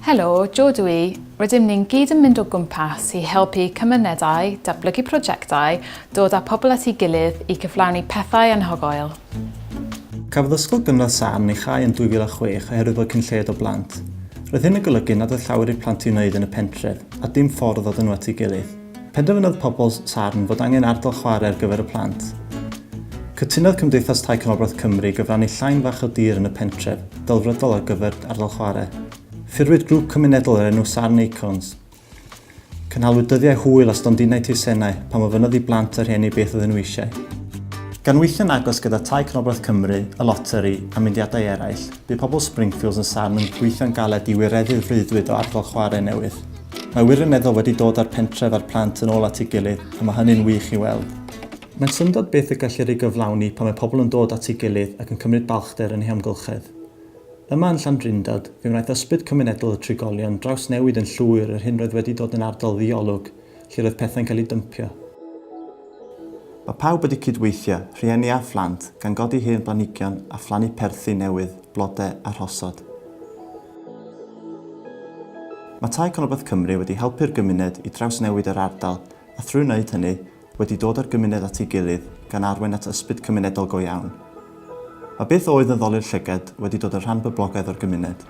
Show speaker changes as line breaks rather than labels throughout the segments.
Helo, Jo dw i. Rydym ni'n gyd yn mynd o gwmpas i helpu cymunedau, datblygu prosiectau, dod â pobl at ei gilydd i cyflawni pethau anhygoel.
Cafodd Ysgol Gynradd Sarn ei chau yn 2006 oherwydd fod cyn lled o blant. Roedd hyn yn golygu nad oedd llawer i'r plant i'w wneud yn y pentref, a dim ffordd o dod nhw at ei gilydd. Penderfynodd pobl Sarn fod angen ardal chwarae ar gyfer y plant. Cytunodd Cymdeithas Tai Canolbarth Cymru i gyfrannu llain fach o dir yn y pentref, delfrydol ar gyfer ardal chwarae. Ffurfwyd grŵp cymunedol o'r enw Sarn Acorns. Cynhalwyd dyddiau hwyl a stondinau teisennau pan ofynnodd i blant a rhieni beth oedden nhw eisiau. Gan weithio'n agos gyda Tai Canolbarth Cymru, y Loteri, a mudiadau eraill, bu pobl Springfields yn Sarn yn gweithio'n galed i wireddu'r freuddwyd o ardal chwarae newydd. Mae wirioneddol wedi dod â'r pentref a'r plant yn ôl at ei gilydd a mae hynny'n wych i weld. Mae'n syndod beth y gellir ei gyflawni pan mae pobl yn dod at ei gilydd ac yn cymryd balchder yn ei hamgylchedd. Yma yn Llandrindod, fe wnaeth ysbryd cymunedol y trigolion drawsnewid yn llwyr yr hyn roedd wedi dod yn ardal ddi-olwg lle roedd pethau'n cael eu dympio. Mae pawb wedi cyd-weithio, rhieni a phlant, gan godi hen blanhigion a phlannu perthi newydd. blodau a rhosod. Mae Tai Canolbarth Cymru wedi helpu'r gymuned i drawsnewid yr ardal a thrwy wneud hynny, wedi dod â'r gymuned at ei gilydd gan arwain at ysbryd cymunedol go iawn. Mae beth oedd yn ddolur llygad wedi dod yn rhan boblogaidd o'r gymuned.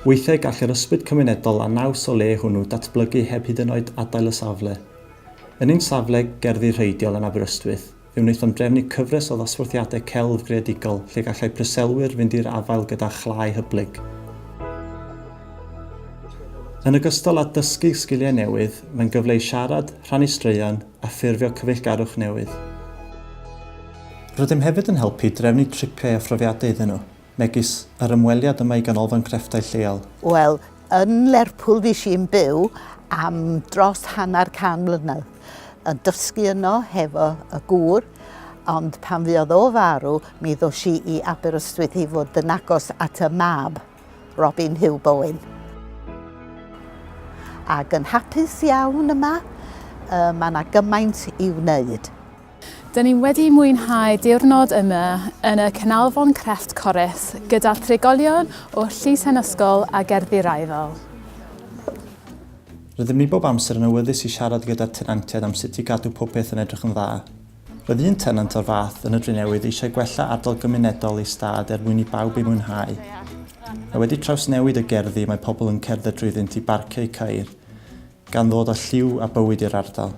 Weithiau gall yr ysbryd cymunedol a naws o le hwnnw datblygu heb hyd yn oed adael y safle. Yn ein safle gerddi rheidiol yn Aberystwyth, Fe wnaethom drefnu cyfres o ddosbarthiadau celf greadigol lle gallai preselwyr fynd i'r afael gyda chlai hyblyg. Yn ogystal â dysgu sgiliau newydd, mae'n gyfle i siarad, rhannu straeon, a ffurfio cyfeillgarwch newydd. Rydym hefyd yn helpu i drefnu tripiau a phrofiadau iddyn nhw, megis yr ymweliad yma i Ganolfan Crefftau Lleol. Wel, yn
Lerpwl fues i'n byw am dros hanner can mlynedd, yn dysgu yno hefo y gŵr, ond pan fuodd o farw, mi ddos i i Aberystwyth i fod yn agos at y mab, Robin Huw Bowen. Ac yn hapus iawn yma, yy, mae 'na gymaint i wneud. Dyn ni
wedi mwynhau diwrnod yma yn y Canolfan Crefft Corris gyda thrigolion o Llusen Ysgol a Gerddi Raeadol.
Rydym ni bob amser yn awyddus i siarad gyda'r tenantiaid am sut i gadw popeth yn edrych yn dda. Roedd un tenant o'r fath yn y Drenewydd eisiau gwella ardal gymunedol ei stad er mwyn i bawb ei mwynhau. Mae wedi trawsnewid y gerddi mae pobl yn cerdded drwyddynt i barcio eu ceir, Gan ddod â lliw a bywyd i'r ardal.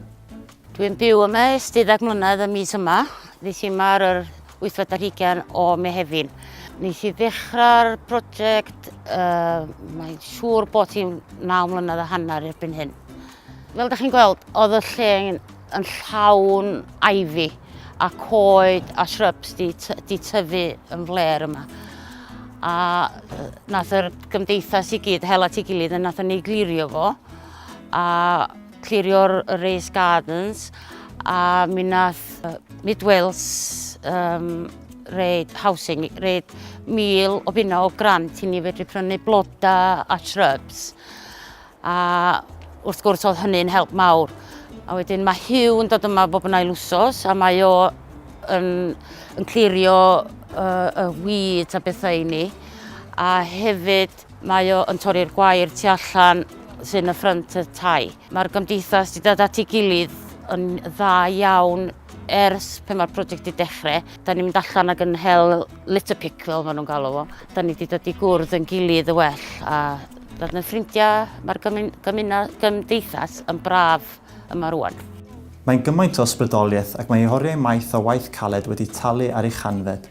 Dwi yn byw
yma ers deuddag mlynedd y mis yma. Ddes i yma ar yr wythfed ar hugain o Mehefin. Nes i ddechrau'r prosiect, uh, mae'n siŵr bod hi'n naw mlynedd a hanner erbyn hyn. Fel da chi'n gweld, oedd y lle yn llawn ivy a coed a shrubs di, di tyfu yn fler yma. A nath yr gymdeithas i gyd hel at ei gilydd a nath ni glirio fo a clirio'r raised gardens a mi nath Mid Wales um, reid housing, reid mil o bunna o grant i ni fedru prynu bloda a shrubs. A wrth gwrs oedd hynny'n help mawr. A wedyn mae Hugh yn dod yma bob yn ail wsos a mae o yn, yn clirio uh, y wyd a bethau i ni. A hefyd mae o yn torri'r gwair tu allan sy'n y ffrynt y tai. Mae'r gymdeithas wedi dod at ei gilydd yn dda iawn ers pe mae'r prosiect wedi dechrau. Da ni'n mynd allan ac yn hel litter pick fel maen nhw'n galw fo. Da ni wedi dod i gwrdd yn gilydd y well a Doedd na ffrindiau, mae'r gymdeithas yn braf yma rwan. Mae gymaint
o ysbrydoliaeth ac mae oriau maith o waith caled wedi talu ar ei chanfed.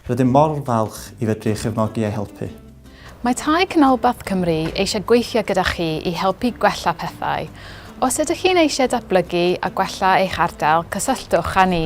Rydym mor falch i fedru ei chefnogi a'i helpu. Mae Tai
Canolbarth Cymru eisiau gweithio gyda chi i helpu gwella pethau. Os ydych chi'n eisiau datblygu a gwella eich ardal, cysylltwch â ni.